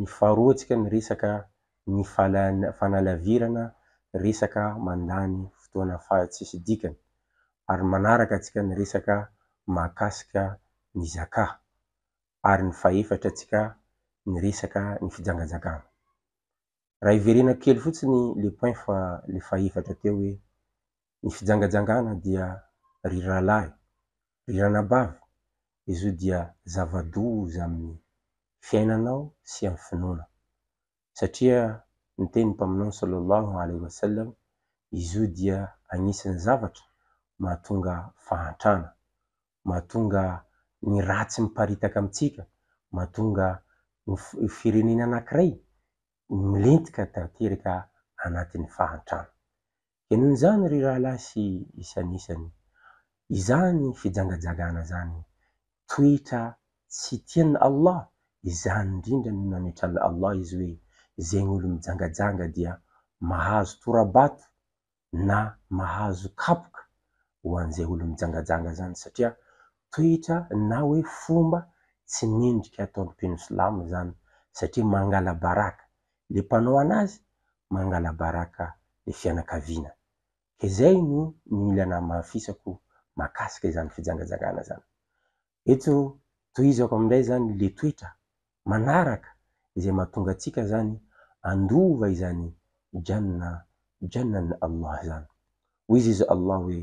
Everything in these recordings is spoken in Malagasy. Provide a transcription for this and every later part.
mifarotsaka ny resaka ny fanalavirana resaka mandany fotoana faha tsisy dikany ary manaraka tsika ny resaka mahakasika ny zaka ary ny fahefatra tsika ny resaka ny fijangajagana raha hiverenako kely fotsiny le point fa le fahefatra teo hoe ny fijangajangana dia ry rahalahy, ry ranabavy, izao dia zava-doza amin'ny fiainanao sy amin'ny finoana. Satria niteny ny Mpaminany sallallahu alaihi wa sallam, izo dia agnisan'ny zavatra mahatonga fahantrana, mahatonga ny ratsy miparitaka amintsika, mahatonga ny firenena anankiray milentika tanteraka anatin'ny fahantrana. Henony izany ry rahalahy sy isanisany. Izany fijangajagana izany, toetra tsy tian'i Allah, izany indrindra no nametran'i Allah izy hoe, Izegny olo mijangajanga dia mahazo tora-bato na mahazo kapoka ho an'izay olo mijangajanga izany satria toetra na hoe fomba tsy mendrika ataon'ny mpino silamo izany satria mangala-baraka le mpanao anazy mangalabaraka le fianakaviana ka zay no ny mila namafisako makasika izany fijangajangana zany eto tohizako amindray zany le toetra manaraka izay mahatonga atsika zany andova izany jannah jannah ny Allah zany hoy izy Allah hoe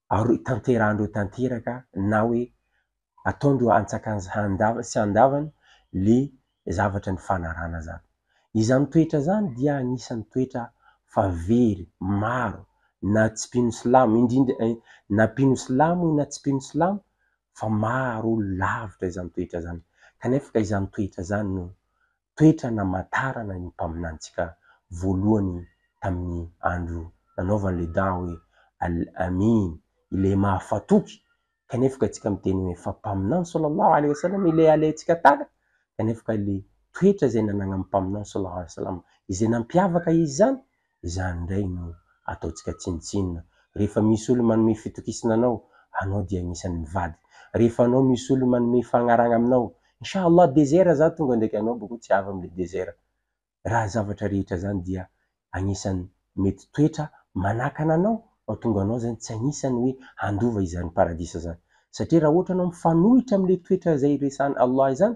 ary tanterahandreo tanteraka na hoe ataondreo antsakany handavany sy handavany le zavatra nifanarahana zany. Izany toetra zany dia anisany toetra fa very maro na tsy mpino silamo indrindra na mpino silamo io na tsy mpino silamo fa maro olo lavitra izany toetra zany kanefa ka izany toetra zany no toetra namantarana io mpaminanintsika voalohany tamin'ny andro nanaovany ilay dua hoe, Al-Amin, ilay mahafatoky, kanefa ka isika miteny hoe, fa Mpaminany saw ilay alaintsika tahaka, kanefa ka ilay toetra izay nananan'ny Mpaminany saw izay nampiavaka izy izany Izany indray no ataontsika tsinontsinona. Rehefa misy olona manome fitokisana anao, anao dia anisan'ny mivady. Rehefa anao misy olona manome fagnaragna aminao, Insha Allah désert za tonga ndraiky anao boko tsy avy amle désert. Raha zavatra rehetra zany dia agnisan'ny mety toetra manakana anao mahatonga anao zany tsy agnisan'ny hoe handova izany paradisa zany. Satria raha ohatra anao mifanohitra amle toetra zay resahan'i Allah izany,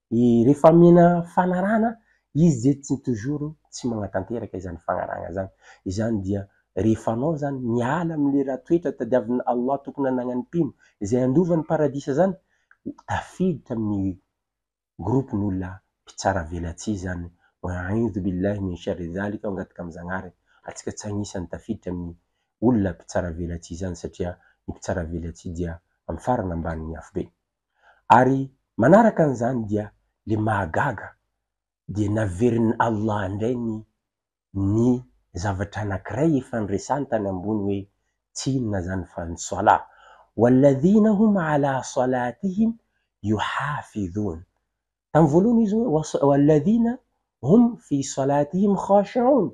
Et rehefa amena fanarahana izy ze tsy toujours tsy magnatanteraka izany fagnarahana zany, izany dia rehefa anao zany miala amle raha toetra tadiavin Allah tokony hanagnany mpino izay handova ny paradisa zany tafiditra aminy groupe ny olona mpitsara velatsihy zany wa'aidhu billahi min sharri zalika mangataka am Zagnahary atsika tsy agnisany tafiditra aminy olona mpitsara velatsihy zany satria ny mpitsara velatsihy dia am farany ambany ny afobeny. ary manaraka an'izany dia le mahagaga dia naverin'i Allah indray ny ny zavatra anankiray efa niresany tany ambony hoe tsy inona izany fa ny Salah, Walladhina hum ala salatihim yuhafidhun, Tamin'ny voalohany izy hoe was alladhina hum fi salatihim khashi'oun.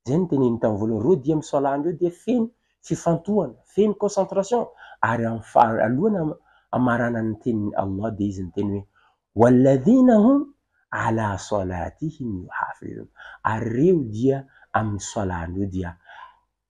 Izay no teneniny tamin'ny voalohany. Ireo dia amin'ny salat-ndreo dia feno fifantohana, feno concentration. Ary amin'ny fara- alohan'ny am- hamaranany ny tenin'i Allah dia izy niteny hoe walladhina hum ala salatihim yuhafidhun. Ary ireo dia amin'ny salat-ndreo dia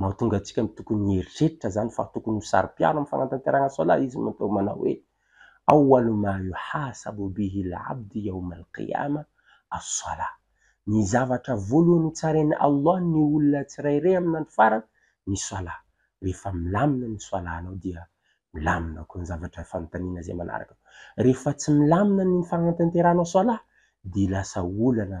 Mahatonga antsika ny tokony hieritreritra izany fa tokony ho saro-piaro amin'ny fanatanterahana Salat izy no atao manao hoe, Awwalu ma yuhasabu bihi al-'abdu yawm al-qiyamah as-salah, Ny zavatra voalohany hotsaren'i Allah ny olona tsirairay amin'ny andro farany, ny Salat. Rehefa milamina ny Salat-nao dia milamina koa ny zavatra fanontaniana izay manaraka. Rehefa tsy milamina ny fanatanteranao Salat dia lasa olana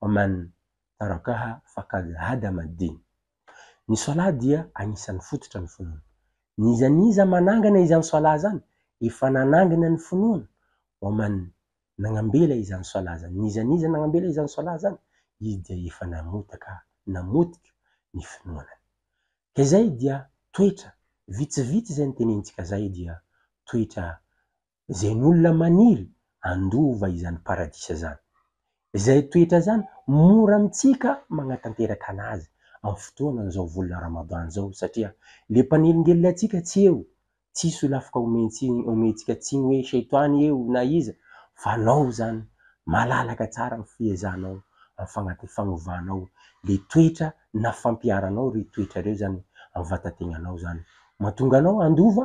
Oman, Tarakaha faqad hadama ad-din. Ny Salat dia anisan'ny fototra ny finoana. N'iza n'iza manangana izany Salat izany, efa nanangana ny finoana. Oman, Nagnambela izany Salat izany. N'iza n'iza nagnambela izany Salat izany, izy dia efa namotaka, namotika, ny finoanany. Ka izay dia toetra, vitsivitsy izay notenenintsika izay dia toetra izay ny olona maniry handova izany paradisa izany. Izay toetra izany mora amintsika magnatanteraka anazy amin'ny fotoanan'izao volana Ramadan izao satria le mpanelingelina antsika tsy eo, tsy solafaka omentsika tsiny hoe Shaitany eo na iza fa anao izany malalaka tsara amin'ny fiezahanao amin'ny fagnovanao le toetra na fampiharanao ireo toetra ireo izany amin'ny vatategnanao izany mahatonga anao handova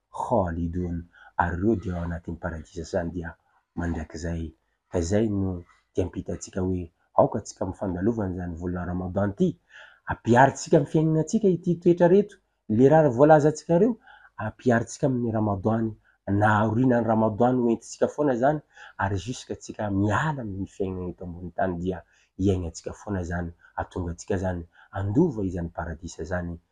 Khalidun, ary ireo dia ao anatin'ny Paradisa izany dia mandrakizay. Ka izay no diam-pitantsika hoe aoka tsika mifandalovana izany volana Ramadan ity, ampiharintsika amin'ny fiainanantsika ity toetra ireto lerara voalazantsika ireo, ampiharintsika amin'ny Ramadan na aorianan'ny Ramadan ho entintsika foana izany ary jusque tsika miala amin'ny fiainana eto ambony tany dia iainantsika foana izany, hatonga antsika izany handova izany Paradisa izany